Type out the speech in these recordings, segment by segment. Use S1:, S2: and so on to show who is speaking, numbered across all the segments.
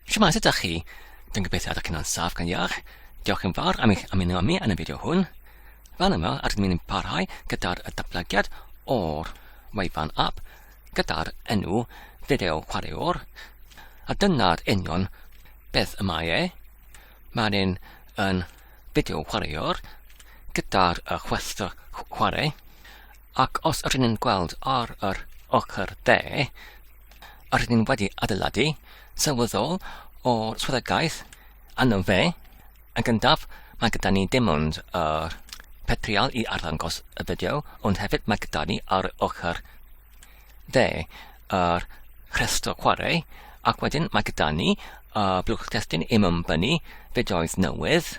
S1: Shwmae, sut ydych chi? Dwi'n gobeithio ydych chi'n o'n saff gan iach. Diolch yn fawr am eich ymuno â mi yn y fideo hwn. Fan yma, rydym ni'n parhau gyda'r datblygiad o'r wefan app gyda'r enw Fideo Chwaraewr. A dyna'r union beth y mae e. Mae'n un yn fideo chwaraewr gyda'r chwestr chwarae. Ac os rydyn ni'n gweld ar yr ochr de, rydyn ni'n wedi adeiladu sylweddol o swyddogaeth anno fe, yn gyntaf mae gyda ni dim ond yr petrial i arddangos y fideo, ond hefyd mae gyda ni ar ochr dde yr rhestr chwarae, ac wedyn mae gyda ni y blwch testyn i mymbynnu fideoedd newydd,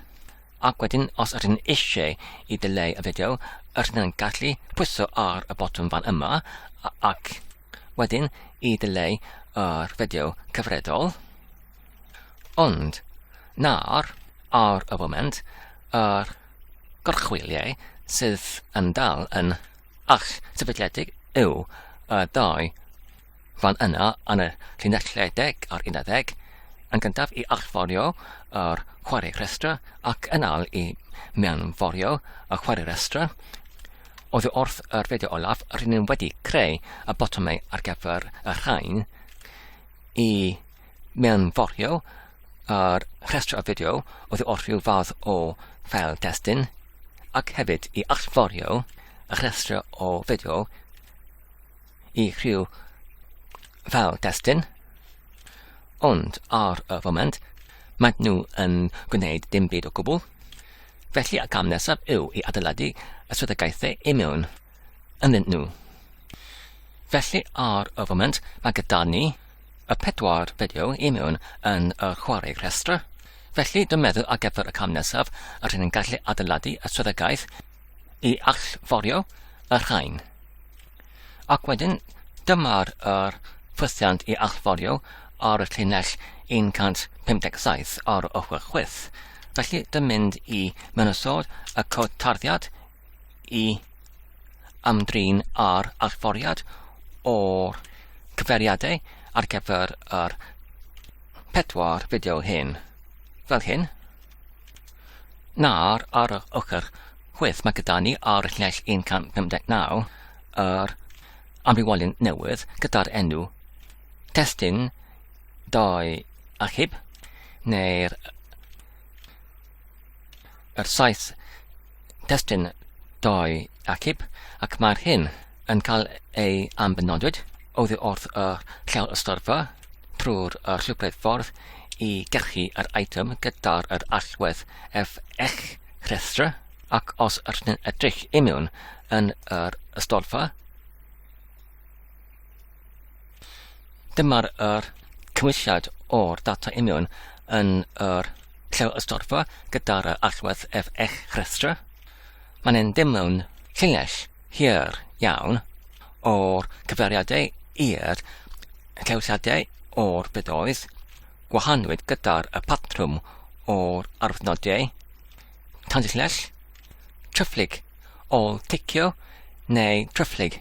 S1: Ac wedyn, os ydyn ni eisiau i ddileu y fideo, ydyn ni'n gallu pwyso ar y botwm fan yma, ac wedyn i ddileu yr fideo cyfredol. Ond, nawr, ar y foment, yr gorchwyliau sydd yn dal yn ach sefydliedig yw y ddau Fan yna, yn y llinellau deg ar unarddeg, yn gyntaf i allforio yr chwarae rhestra ac yn al i mewnforio y chwarae rhestra, oddi wrth yr fideo olaf, rydyn ni wedi creu y botymau ar gyfer y rhain i mewnforio yr rhestr o fideo oddi wrth rhyw fath o fel testyn, ac hefyd i allforio y rhestr o fideo i rhyw fel destun, ond ar y foment maen nhw yn gwneud dim byd o gwbl, felly y cam nesaf yw i adeiladu y swyddogaethau i mewn ynddyn nhw. Felly ar y foment mae gyda ni y pedwar fideo i mewn yn y chwarae rhestr, felly dwi'n meddwl ar gyfer y cam nesaf yr hyn yn gallu adeiladu y swyddogaeth i allforio y rhain. Ac wedyn, dyma'r er ffwythiant i allforio ar y llinell 157 ar ochr chwith. Felly, dy mynd i mynysodd y cod tarddiad i ymdrin ar allforiad o'r cyfeiriadau ar gyfer yr pedwar fideo hyn, fel hyn. Nawr, ar yr ochr chwith, mae gyda ni ar lleill 159 yr amrywiolyn newydd gyda'r enw testun dau achub, neu'r yr saith testun doi acib ac mae'r hyn yn cael ei ambenodwyd oddi wrth y llawr ystorfa trwy'r llwybrau ffordd i gyrchu yr item gyda'r yr allwedd ef eich rhestr ac os rydyn edrych imiwn yn yr ystorfa Dyma'r yr cymwysiad o'r data union yn yr lle ystorfa gyda'r allwedd ef eich rhestr. Mae'n ein dim mewn llinell hir iawn o'r cyfeiriadau i'r llewsiadau o'r bydoedd gwahanwyd gyda'r y patrwm o'r arwyddnodau tanllell, tryfflyg, ôl ticio neu tryfflyg.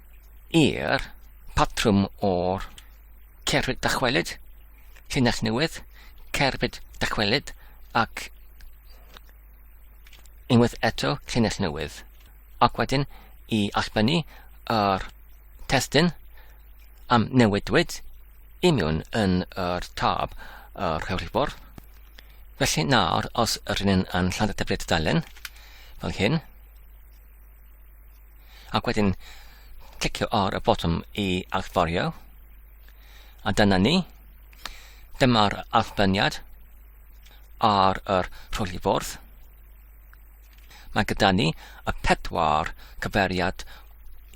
S1: i'r patrwm o'r cerbyd dychwelyd, llinell newydd, cerbyd dychwelyd ac unwaith eto llinell newydd. Ac wedyn i allbynnu yr testyn am newidwyd i mewn yn yr tab yr hewlifwr. Felly nawr os rydyn yn lladd y dyfriad dalen fel hyn, ac wedyn clicio ar y botwm i allforio. A dyna ni. Dyma'r allbyniad ar yr rhwli fwrdd. Mae gyda ni y pedwar cyferiad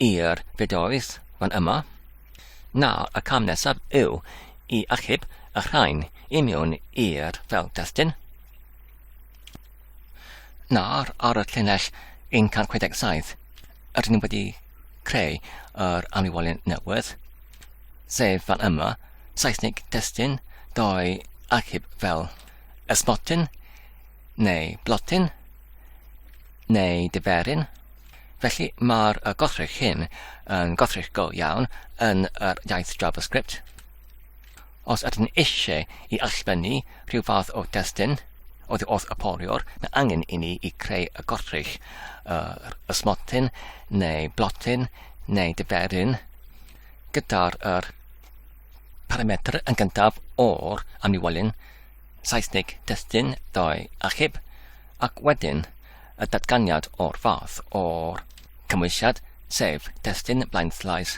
S1: i'r fideoedd fan yma. Nawr y cam nesaf yw i achub y rhain i mewn i'r fel destyn. Nawr, ar y llinell 167, rydyn ni wedi creu yr amliwolyn newydd, sef fan yma, Saesnig testyn, doi achub fel ysmotyn, neu blotyn, neu diferyn. Felly mae'r gothrych hyn yn gothrych go iawn yn yr iaith JavaScript. Os ydyn eisiau i allbynnu rhyw fath o destun oddi wrth y poliwr, mae angen i ni i creu y gortryll, yr ysmotyn neu blotyn neu diferyn gyda'r yr parametr yn gyntaf o'r amniwolyn Saesnig destun ddoe achub ac wedyn y datganiad o'r fath o'r cymwysiad sef destun blaenllaes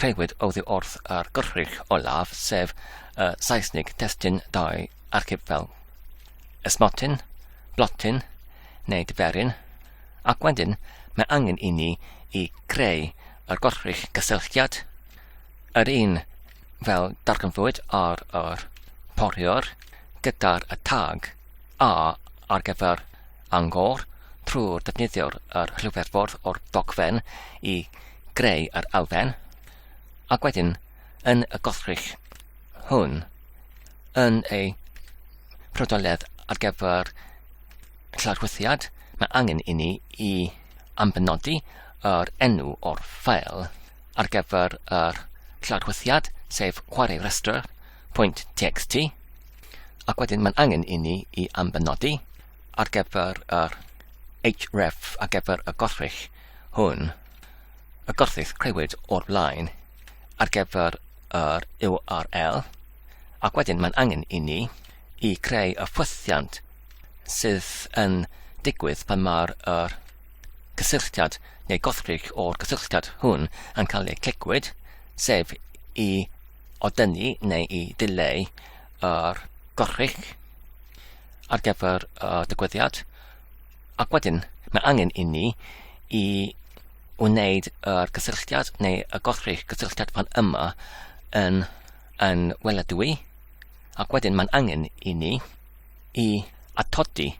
S1: crëwyd oddi wrth yr Gyrrwch olaf, sef y Saesnig testun dau archif fel esmotyn, blotyn neu diferyn, ac wedyn mae angen i ni i creu yr Gyrrwch gysylltiad, yr un fel darganfuwyd ar yr poriwr gyda'r tag A ar gyfer Bangor trwy ddefnyddio'r yr rhywbeth-ffordd o'r dogfen i greu yr elfen, ac wedyn yn y gollrych hwn yn ei prodoledd ar gyfer llarwyddiad, mae angen i ni i ambenodi yr enw o'r ffeil ar gyfer yr llarwyddiad, sef chwarae rhestr pwynt txt. Ac wedyn mae'n angen i ni i ambenodi ar gyfer yr href ar gyfer y gorffig hwn, y gorffig creuwyd o'r blaen ar gyfer yr URL, ac wedyn mae'n angen i ni i creu y ffwythiant sydd yn digwydd pan mae'r er, cysylltiad neu gorffig o'r cysylltiad hwn yn cael ei clicwyd, sef i o dynnu neu i dileu yr gorchudd ar gyfer y digwyddiad. Ac wedyn, mae angen i ni i wneud yr gysylltiad neu y gorchudd gysylltiad fan yma yn, yn weladwy. Ac wedyn mae'n angen i ni i atodi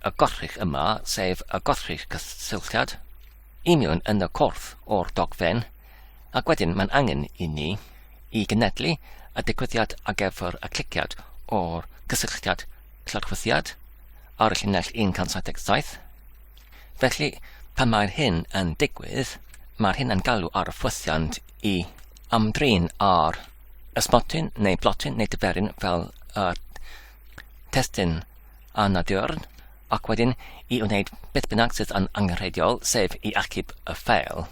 S1: y gorchudd yma, sef y gorchudd cysylltiad. i mewn yn y corff o'r dogfen, ac wedyn mae'n angen i ni i gynhedlu y digwyddiad ar gyfer y cliciad o'r cysylltiad llofruddiad ar y llinell 177. Felly, pan mae'r hyn yn digwydd, mae'r hyn yn galw ar y ffwythiant i ymdrin ar ysmotyn neu blotyn neu dyferyn fel y testyn anadurn ac wedyn i wneud beth bynnag sydd yn angenrheidiol, sef i achub y ffeil.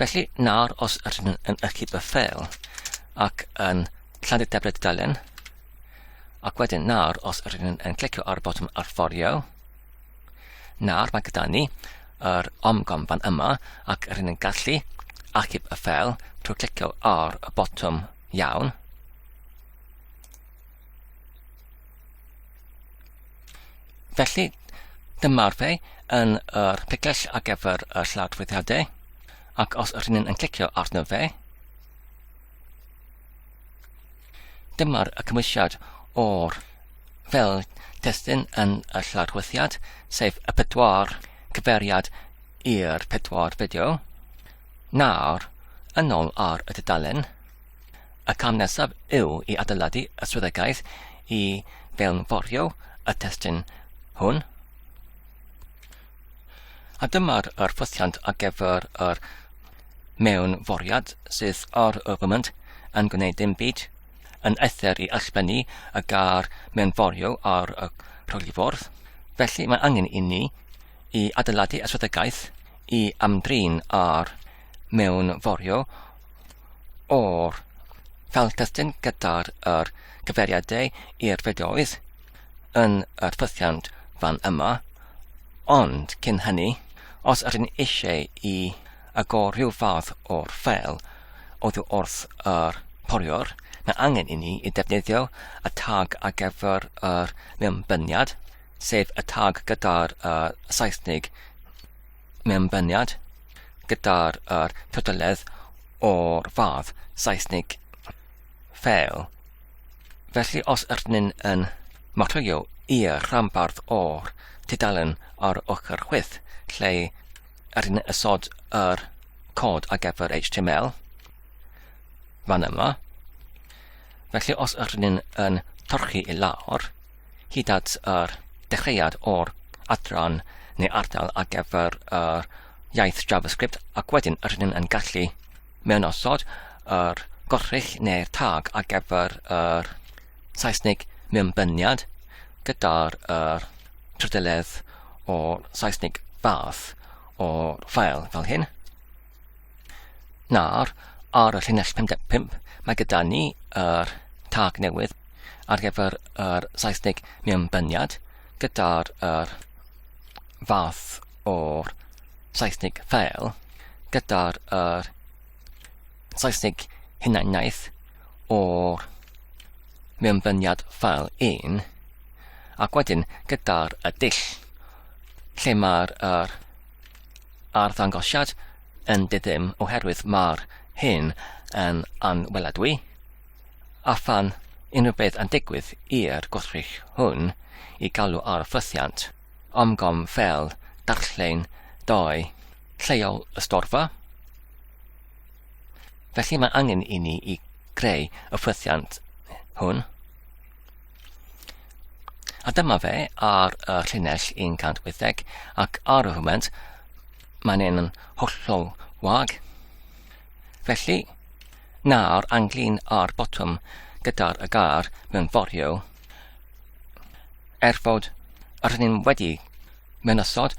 S1: Felly, nawr os ydyn yn achub y ffeil ac yn llandu debryd dudalen, ac wedyn nawr os rydyn ni'n yn clicio ar y botwm arforio, nawr mae gyda ni yr omgom fan yma ac rydyn ni'n gallu achub y ffel trwy clicio ar y botwm iawn. Felly, dyma'r fe yn yr picell ar gyfer y lladwyddiadau, ac os yr hynny'n yn clicio arno fe, dyma'r y cymwysiad o'r fel testyn yn y lladwyddiad, sef y pedwar cyferiad i'r pedwar fideo. Nawr, yn ôl ar y dudalen, Y cam nesaf yw i adeiladu y swyddogaeth i fewnforio y testun hwn. A dyma'r yr ffosiant ar gyfer yr mewnforiad sydd ar y foment yn gwneud dim byd, yn eithr i allbennu y gar mewnforio ar y rholiffordd. Felly mae angen i ni i adeiladu y swyddogaeth i ymdrin ar mewnforio o'r sawl testun gyda'r yr cyfeiriadau i'r fideoedd yn yr ffythiant fan yma, ond cyn hynny, os ydyn eisiau i agor rhyw fath o'r ffeil oddi wrth yr poriwr, mae angen i ni i defnyddio y tag ar gyfer yr mewnbyniad, sef y tag gyda'r uh, Saesnig mewnbyniad gyda'r yr pwdledd o'r fath, Saesnig fel. Felly os ydyn yn marchio i'r rhanbarth o'r tudalen ar ochr chwith lle ydyn ysod yr cod ar gyfer HTML, fan yma, felly os ydyn yn torchi i lawr, Hyd at yr dechreuad o'r adran neu ardal ar gyfer yr iaith JavaScript ac wedyn rydyn yn gallu mewnosod yr gorchull neu'r tag ar gyfer yr Saesneg mewnbyniad gyda'r yr trydeledd o Saesneg fath o'r ffael fel hyn. Nawr, ar y llinell 55, mae gyda ni yr tag newydd ar gyfer yr Saesneg mewnbyniad gyda'r yr fath o'r Saesneg fail gyda'r yr Saesneg hunaniaeth o'r mewnbyniad ffael 1 ac wedyn gyda'r y dull lle mae'r er, arddangosiad yn diddym oherwydd mae'r hyn yn anweladwy, a phan unrhyw beth yn digwydd i'r gwrthrych hwn i galw ar ffrythiant Omgom fel darllen doi lleol y storfa, felly mae angen i ni i greu y ffrythiant hwn. A dyma fe ar y llinell 180 ac ar y foment mae'n un yn hollol wag. Felly, nawr anglin ar botwm gyda'r y gar mewn forio er fod yr hynny'n wedi mynychod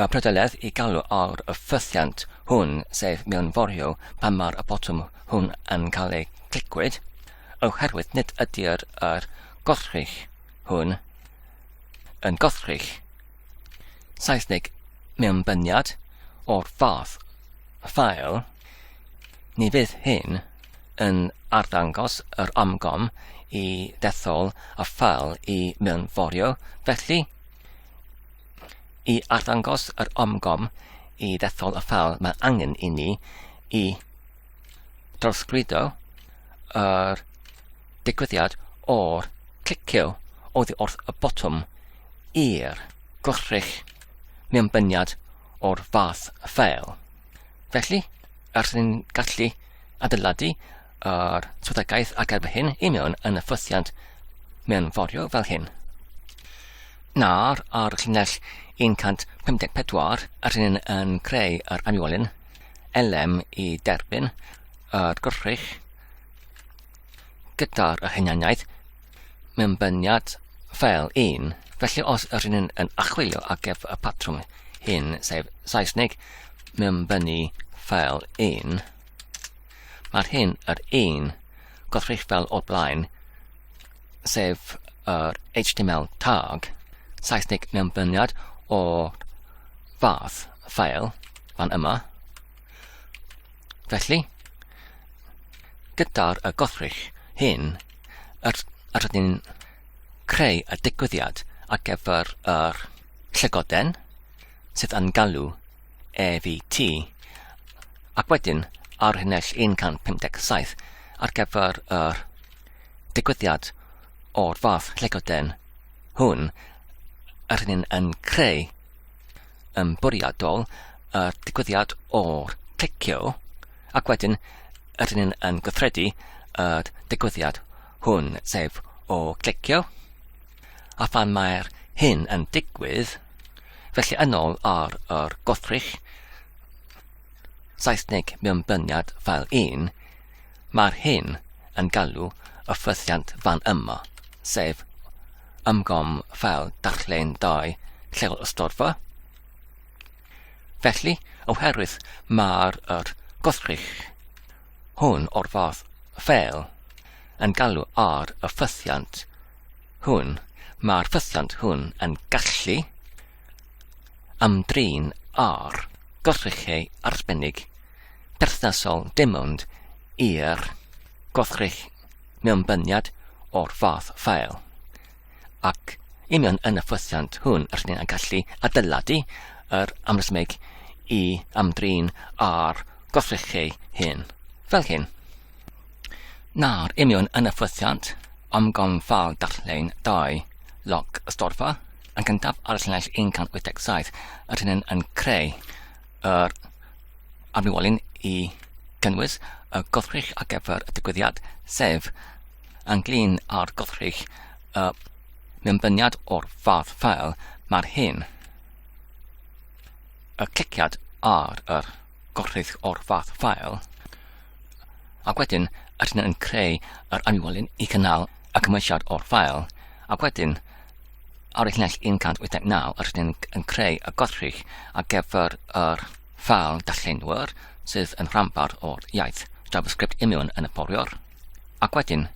S1: y prydeledd i galw ar y ffythiant hwn, sef mewn forio pan mae'r y botwm hwn yn cael ei clicwyd, oherwydd nid ydy'r yr gollrig hwn yn gollrig Saesnig mewnbyniad o'r fath ffael, ni fydd hyn yn arddangos yr amgom i dethol y ffael i mewnforio, felly, i arddangos yr amgom i dethol y ffael mae angen i ni i Trosglwyddo yr digwyddiad o'r clicio oddi wrth y botwm i'r gwrthrych mewnbyniad o'r fath ffeil. Felly, ers ni'n gallu adeiladu yr swyddogaeth ac efo hyn i mewn yn y ffythiant mewn forio fel hyn. Nawr, ar llinell 154, rydyn yn creu yr aniwolyn elem i derbyn yr gwrthrych gyda'r hunaniaeth mewnbyniad fel un. Felly os yr hyn yn achwilio ar gyfer y patrwm hyn, sef Saesneg mewnbynnu fel un, mae'r hyn yr un gwrthrych fel o'r blaen sef yr HTML tag, Saesneg mewnbyniad o fath ffael fan yma. Felly, gyda'r y gothrych hyn, yr, yr ydyn creu y digwyddiad ar gyfer yr llygoden sydd yn galw EVT ac wedyn ar hynell 157 ar gyfer yr digwyddiad o'r fath lle gyda'n hwn, yr hyn yn creu yn bwriadol yr digwyddiad o'r clicio ac wedyn yr hyn yn gyffredu yr digwyddiad hwn, sef o clicio, a phan mae'r hyn yn digwydd, felly yn ôl ar yr gwrthrych Saesneg mewnbyniad fel un, Mae'r hyn yn galw y ffythiant fan yma, sef ymgom fel darllen dau lleol ystodfa. Felly, oherwydd mae'r er gwrthrych hwn o'r fath fel yn galw ar y ffythiant hwn, mae'r ffythiant hwn yn gallu Ymdrin â'r gwrthrychau arbennig perthnasol dim ond i'r gwrthrych mewnbyniad o'r fath ffael, ac union yn y ffwythiant hwn yr rydym yn gallu adeiladu yr amrhymeg i ymdrin â'r gwrthrychau hyn, fel hyn. Nawr, union yn y ffwythiant, ymgom ffael darllen dau loc ystorfa, yn gyntaf ar y llinell 187 yr hyn yn creu yr arwywolyn i gynnwys y goddrych ar gyfer y digwyddiad, sef ynglyn â'r goddrych y mewnbyniad o'r fath fel mae'r hyn. Y cliciad ar yr gorchudd o'r fath ffael, ac wedyn rydyn yn creu yr anifolyn i gynnal y cymwysiad o'r ffael, ac wedyn ar y llinell 189 yr ydyn yn creu y gorchudd ar gyfer yr ffal darllenwyr sydd yn rhanbarth o'r iaith JavaScript imiwn yn y fforwr, ac wedyn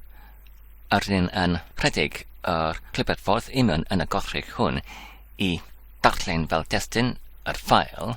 S1: yr ydyn yn rhedeg yr clybiadffordd imiwn yn y gorchudd hwn i darllen fel destun yr ffael,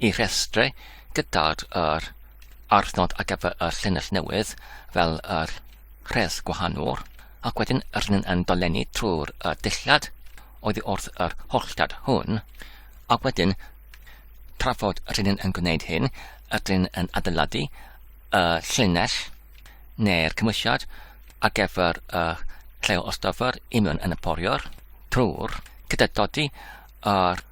S1: Y rhestr gyda'r yr adnod ar gyfer y llinell newydd fel yr rhes gwahanol ac wedyn yr hyn yn dolenni trwy'r y dillad oedd wrth yr holltad hwn a wedyn trafod yr hyn yn gwneud hyn ydyn yn adeiladu y llinell neu'r cymwysiad ar gyfer y lleol ostyfr union yn y poriwr trwy'r gyda dodi yr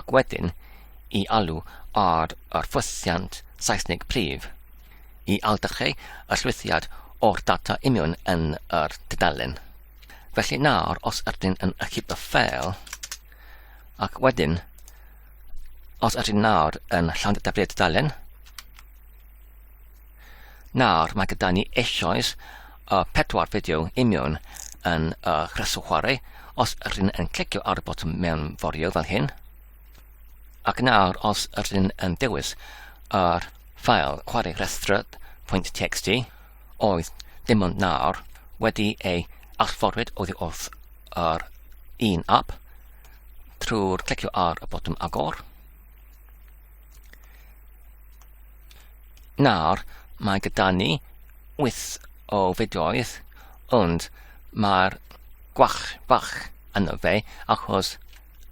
S1: ac wedyn i alw ar yr ffwythiant Seisnig prif i aildychu y llwythiad o'r data union yn yr dudalen. Felly nawr, os ydyn yn ychydig y ffeil, ac wedyn, os ydyn nawr yn llawn dydaflu'r dudalen, Nawr mae gyda ni eisoes y pedwar fideo imiwn yn y rheswm chwarae os ydyn yn clicio ar y botwm mewn forio fel hyn ac nawr os ydyn yn dewis yr ffael chwarae rhestr.txt oedd dim ond nawr wedi ei allforwyd oddi wrth yr un app trwy'r clicio ar y botwm agor Nawr, mae gyda ni wyth o fideoedd, ond mae'r gwach bach yna fe, achos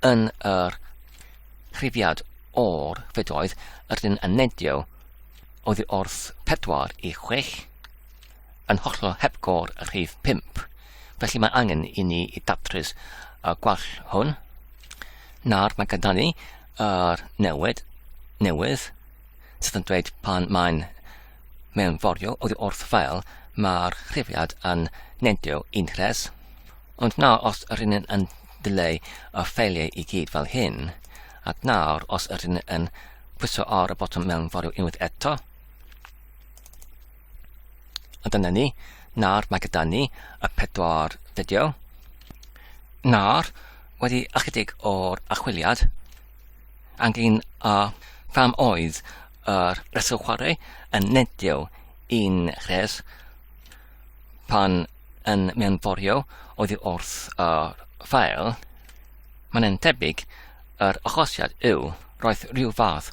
S1: yn yr rhifiad o'r fideoedd rydyn yn nedio oddi wrth 4 i 6 yn hollol hepgor y rhif 5. Felly mae angen i ni i datrys y gwall hwn. Nawr mae gyda ni a'r newid newydd sydd yn dweud pan mae'n mewnforio oddi wrth fel mae'r chrifiad yn nendio un rhes. Ond nawr os yr un yn dileu y ffeiliau i gyd fel hyn, ac nawr os yr un yn pwyso ar y botwm mewnforio unwaith eto, A dyna ni. Nawr mae gyda ni y pedwar fideo. Nawr, wedi ychydig o'r achwiliad, angin a pham oedd yr reswm chwarae yn nedio i'n rhes pan yn mewnforio oedd wrth y ffael, mae'n tebyg yr achosiad yw roedd rhyw fath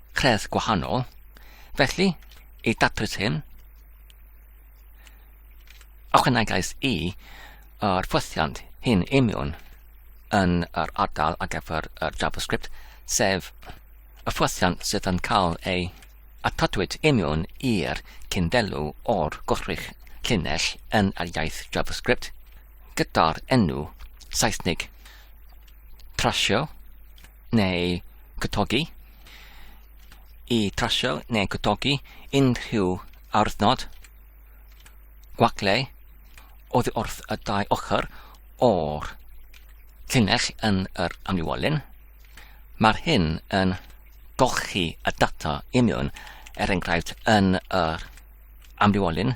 S1: credd gwahanol. Felly, i datrys hyn, ychwanegais i yr ffwythiant hyn imiwn yn yr ardal ar gyfer yr JavaScript, sef y ffwythiant sydd yn cael ei atodwyd imiwn i'r cyndelw o'r gwrthrych llinell yn yr iaith JavaScript gyda'r enw Saesnig trasio neu gwtogi, i trasio neu gwtogi unrhyw awyrnod, gwagle, oddi wrth y dau ochr o'r llinell yn yr amliwolyn. Mae'r hyn yn golchi y data imiwn, er enghraifft yn yr amliwolyn,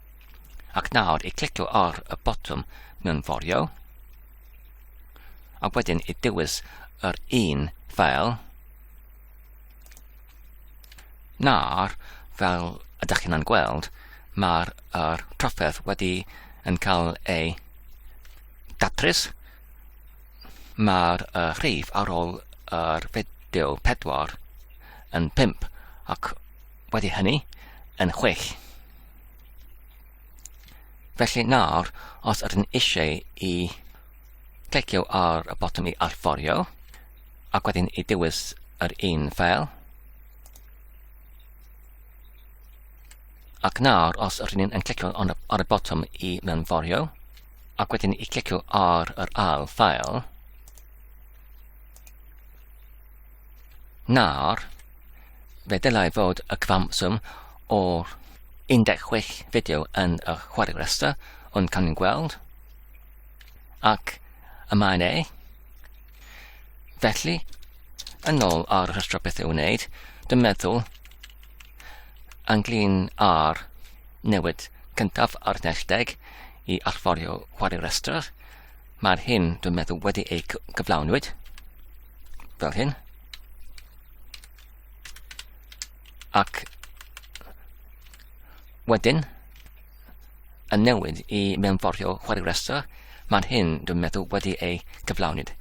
S1: Ac nawr i clicio ar y botwm mewnforio, a wedyn i dewis yr un fel na'r fel ydych chi'n gweld, mae'r er trafferth wedi yn cael ei datrys. Mae'r uh, rhif ar ôl yr er fideo 4 yn 5 ac wedi hynny yn 6. Felly nawr, os ydyn ni eisiau i clicio ar y botwm i allforio, ac wedyn i dewis yr un ffeil, ac nawr os ydyn ni'n clicio ar y botwm i mewnforio, ac wedyn i clicio ar yr ail ffeil, Nawr, fe ddylai fod y cyfanswm o'r 16 fideo yn y chwarae rhestr, ond cawn ni'n gweld. Ac y mae'n ei. Felly, yn ôl ar y rhestr beth i'w wneud, dwi'n meddwl ynglyn â'r newid cyntaf ar nesdeg i allforio chwarae rhestr, Mae'r hyn dwi'n meddwl wedi ei gyflawnwyd. Fel hyn. Ac wedyn, y newid i mewnforio chwarae rhestr, mae'r hyn dwi'n meddwl wedi ei gyflawnwyd.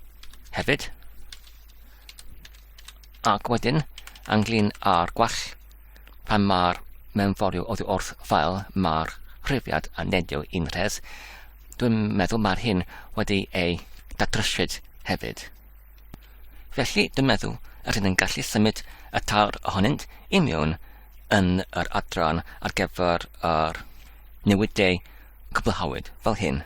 S1: Hefyd, ac wedyn, anglyn ar gwell, pan mae'r mewnforio oddi wrth ffael, mae'r rhywiad yn nedio i'n rhes, Dwi'n meddwl mae'r hyn wedi ei dadryshyd hefyd. Felly, dwi'n meddwl yr hyn yn gallu symud y tawr ohonynt i mewn yn yr adran ar gyfer yr newidiau cwblhawyd, fel hyn.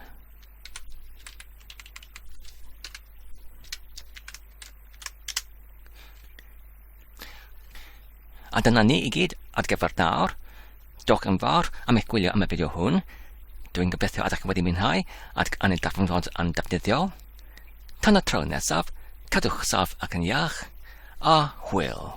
S1: A dyna ni i gyd ar gyfer nawr. Diolch yn fawr am eich gwylio am y fideo hwn. Dwi'n gobeithio ydych wedi mwynhau ac yn ei darganfod yn defnyddiol. Tan y tro nesaf, cadwch saf ac yn iach, a hwyl!